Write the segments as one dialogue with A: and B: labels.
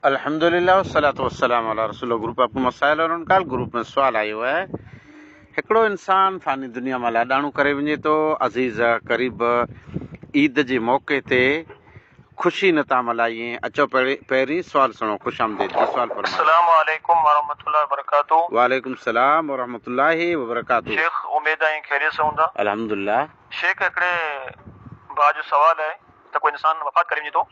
A: الحمد لله والصلوة والسلام علي رسول الله گروپ آپ ڪو مسائل اور ان ڪال گروپ ۾ سوال آيو آهي هڪڙو انسان فاني دنيا مان لاڏاڻو ڪري وڃي ٿو عزيز قريب عيد جي موقعي تي خوشي نه ٿا ملائين اچو پهرين سوال سڻو خوش آمديد جي سوال فرمائي السلام عليڪم
B: ورحمة الله وبرڪاته وعليڪم السلام
A: ورحمة الله وبرڪاته شيخ اميد آهي خيريت سان هوندا
B: الحمد لله شيخ هڪڙي ڀاء جو سوال آهي ته ڪو انسان وفات ڪري وڃي ٿو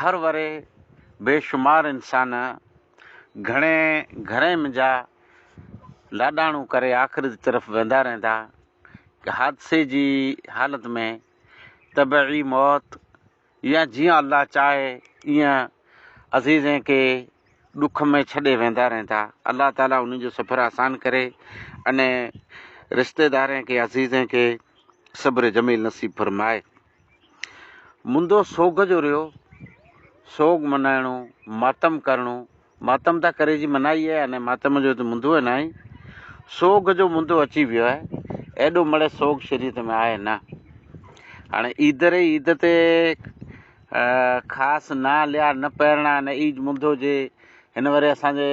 A: هر ورهيه بي شمار انسان گهڻي گهرين منجها لاڏاڻو ڪري آخرت جي طرف ويندا رهندا. ڪي حادثي جي حالت ۾ طبعي موت يا جيئن الله چاهي ايئن عزيزين کي ڏک ۾ ڇڏي ويندا رهندا. الله تعالي انهن جو سفر آسان ڪري انهن رشتيدارين کي عزيزين کي صبر جميل نصيب فرمائي. مندو سوگهه جو ريو، سوگ منائڻو، ماتم ڪرڻو، ماتم ته ڪري جي منائي اهي آهي نه ماتم جو ته مندو اهي ناهي، سوگهه جو مندو اچي ويو اهي، ايڏو مڙهي سوگ شريعت ۾ آهي نه. هاڻي عيد ري عيد تي خاص نه ليا نه پهرڻا نه عيد مندو جي هن وري اسان جي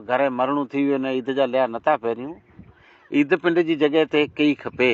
A: گهري مرڻو ٿي ويو نه عيد جا ليا نه ٿا پهريون، عيد پنڊ جي جڳهه تي ڪئي کپي.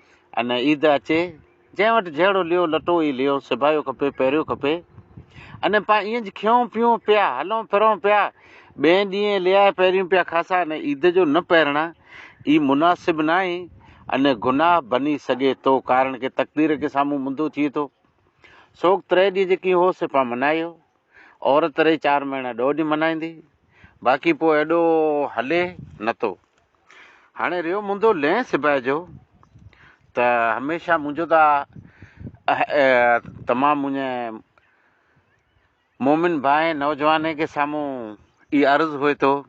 A: ۽ نه عيد اچي، جنهن وٽ جهڙو ليئو لٽو ئي ليئو سبايو کپي پهريو کپي ۽ پا ائين کيئون پيئون پيا هلون ڦرون پيا ٻئين ڏينهن ليئا پهريون پيا خاصا ۽ عيد جو نه پهرڻ ئي مناسب ناهي ۽ گناهه بني سگهي ٿو ڪارڻ ڪي تقدير ڪي سامهون منڌو ٿئي ٿو سوڪ تري ڏينهن جيڪي هو سي پا منايو. عورت رهي چار مهينا ڏهه ڏينهن منائيندي باقي پوء ايڏو هلي نتو هاڻي رهيو منهنجو لئين سباء جو ته هميشه منهنجو ته تمام منهنجي مومن ڀائي نوجواني کي سامهون اي عرض هئي ٿو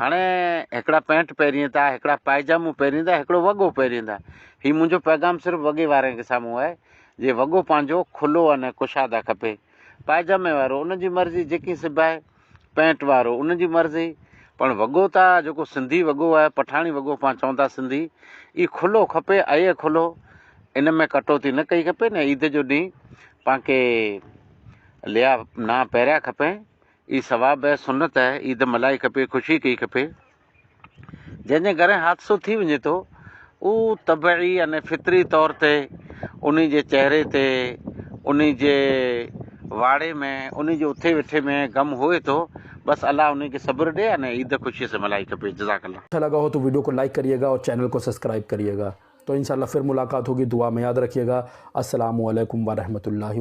A: هاڻي هڪڙا پينٽ پهرين ٿا هڪڙا پائجامو پهرين ٿا هڪڙو وڳو پهرين ٿا هي منهنجو پيغام صرف وڳي وارن کي سامهون آهي جي وڳو پنهنجو کلو ان ڪشاده کپي پائجامي وارو ان جي مرضي جيڪي سبائي پينٽ وارو ان جي مرضي پڻ وڳو ته جيڪو سنڌي وڳو آهي پٺاڻي وڳو پان چون ٿا سنڌي اي کلو کپي اي کلو ان ۾ ڪٽوتي نه ڪئي کپي نه عيد جو ڏينهن پانکي ليا نا پهريا کپي اي ثواب اي سنت اي عيد ملهائي کپي خوشي ڪئي کپي جنهن جي گهرين حادثو ٿي وڃي ٿو او طبعي يعني فطري طور تي انهي جي چهري تي انهي جي واڙي ۾ انهي جي اٿي ويٺي ۾ غم هئي ٿو بس الله انهي کي صبر ڏي يعني عيد خوشي سان ملهائي کپي جزاڪ الله. اچھا لگا ھو تو ويڊيو کو
C: لائيڪ ڪريي گا اور چينل کو سسڪرائيب ڪريي گا تو انشاء الله فر ملاقات ھوگي دعا مي ياد رکيي گا السلام عليکم ورحمة الله.